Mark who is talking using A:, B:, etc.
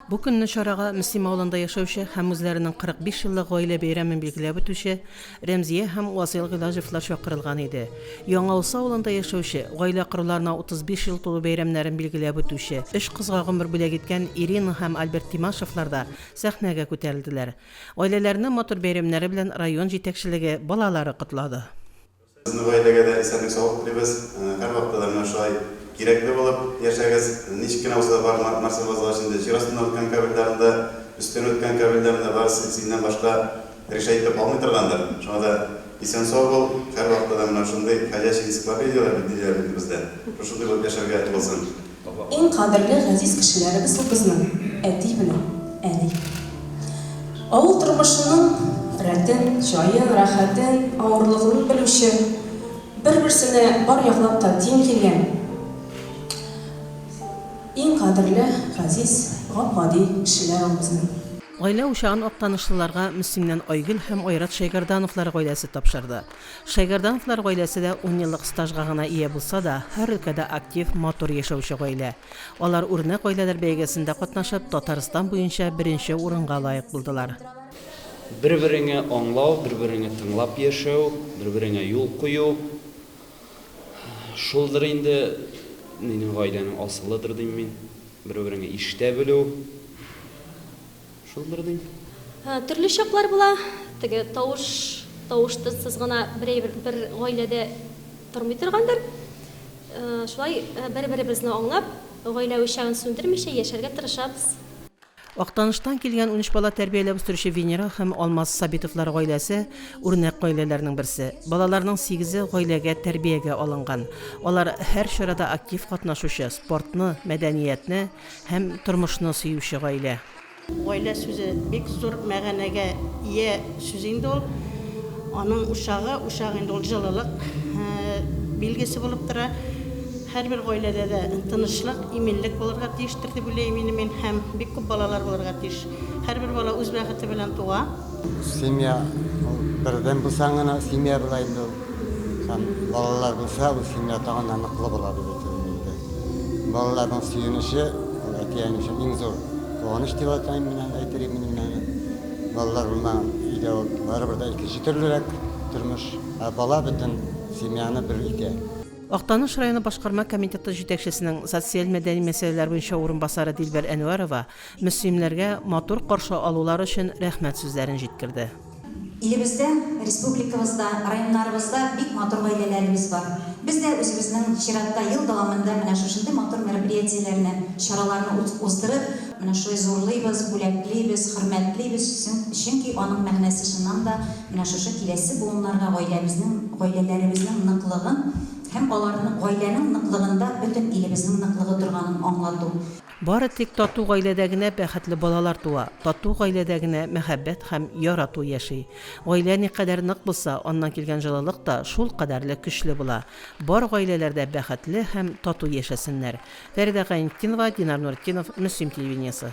A: Бу көнне чарага Мөслим авылында яшәүче һәм үзләренең 45 еллык гаилә бәйрәмен билгеләп үтүче Рәмзия һәм Васыйл Гыйлаҗевлар чакырылган иде. Яңаусы авылында яшәүче, гаилә коруларына 35 ел тулу бәйрәмнәрен билгеләп үтүче, өч кызга гомер бүләк иткән Ирина һәм Альберт Тимашевлар да сәхнәгә күтәрелделәр. Гаиләләрне матур бәйрәмнәре белән район җитәкчелеге, балалары котлады. Сезнең
B: гаиләгә дә исәнлек-саулык телибез. Һәрвакытта да менә шулай кирәкле булып яшәгез. Ничек кенә булса да бар нәрсә бозылгач инде җир астыннан үткән каберләрен дә, өстеннән үткән каберләрен дә бар синнән башка решать итеп алмый торгандыр. Шуңа да исән-сау бул. Һәрвакытта да менә шундый ходячий энциклопедияләр бит диләр инде бездә. Шушындый булып яшәргә булсын. Иң кадерле
C: газиз кешеләребез ул безнең әти белән әни. Авыл тормышының рәтен, җаен, рәхәтен, авырлыгын белүче, бер-берсенә бар яклап та тиң килгән иң кадерле, газиз, гап-гади кешеләр ул безнең. Гаилә учагын
A: актанышлыларга Мөслимнән Айгөл һәм Айрат Шәйгардановлар гаиләсе тапшырды. Шәйгәрдановлар гаиләсе дә унъеллык стажга гына ия булса да, һәр өлкәдә актив, матур яшәүче гаилә. Алар Үрнәк гаиләләр бәйгесендә катнашып, Татарстан буенча беренче урынга лаек булдылар. Бер-береңе
D: аңлау, бер-береңе тыңлап яшәү, бер-береңә юл кую, шулдыр инде минем гаиләнең асылыдыр дим мин. Бер-береңе ишетә белү. Шул бер дин. Төрле чаклар
E: була. Теге тавыш, тавыштысыз гына берәй бер гаиләдә тормый торгандыр. Шулай бер-беребезне аңлап, гаилә учагын сүндермичә яшәргә тырышабыз. Актаныштан
A: килгән унөч бала тәрбияләп үстерүче Венера һәм Алмаз Сабитовлар гаиләсе, үрнәк гаиләләрнең берсе. Балаларның сигезе гаиләгә тәрбиягә алынган. Алар һәр чарада актив катнашучы, спортны, мәдәниятне, Һәм тормышны сөюче гаилә. Гаилә сүзе
F: бик зур мәгәнәгә ия сүз инде ул. Аның учагы, учак инде ул җылылык билгесе булып тора. Һәрбер гаиләдә дә тынычлык, иминлек булырга тиештер дип уйлыйм инде мин. Һәм бик күп балалар булырга тиеш. Һәрбер бала үз бәхете белән туа. Семья
G: бердән булсаң гына семья була инде ул. Һәм балалар булса, ул семья тагын да ныклы була дип әйтелгән инде. Балаларның сөенече ул әти-әни өчен иң зур куаныч дип атайм мин аны, әйтер идем мин аны. Балалар булмаган өйдә ул барыбер дә икенче төрлерәк тормыш, ә бала бөтен семьяны бер итә. Актаныш районы
A: башкарма комитеты җитәкчесенең социаль-мәдәни мәсьәләләр буенча урынбасары Дилбәр Әнвәрова Мөслимнәргә матур каршы алулар өчен рәхмәт сүзләрен җиткерде. Илебездә,
H: республикабызда, районнарыбызда бик матур гаиләләребез бар. Без дә үзебезнең чиратта ел дәвамында менә шушындый матур мероприятиеләрне, чараларны уздырып, менә шулай зурлыйбыз, бүләклибез, хөрмәтлибез, чөнки аның мәгънәсе чыннан да менә шушы киләсе буыннарга гаиләбезнең, гаиләләребезнең ныклыгын һәм аларны, гаиләнең ныклыгында бөтен илебезнең ныклыгы торганын аңлату. Бары тик
A: тату гаиләдә генә бәхетле балалар туа, тату гаиләдә генә мәхәббәт һәм ярату яши. Гаилә никадәр нык булса, аннан килгән җылылык та шул кадәрле көчле була. Бар гаиләләр дә бәхетле һәм тату яшәсеннәр. Фәридә Гайнетдинова, Динар Нуретдинов, Мөслим телевидениесе.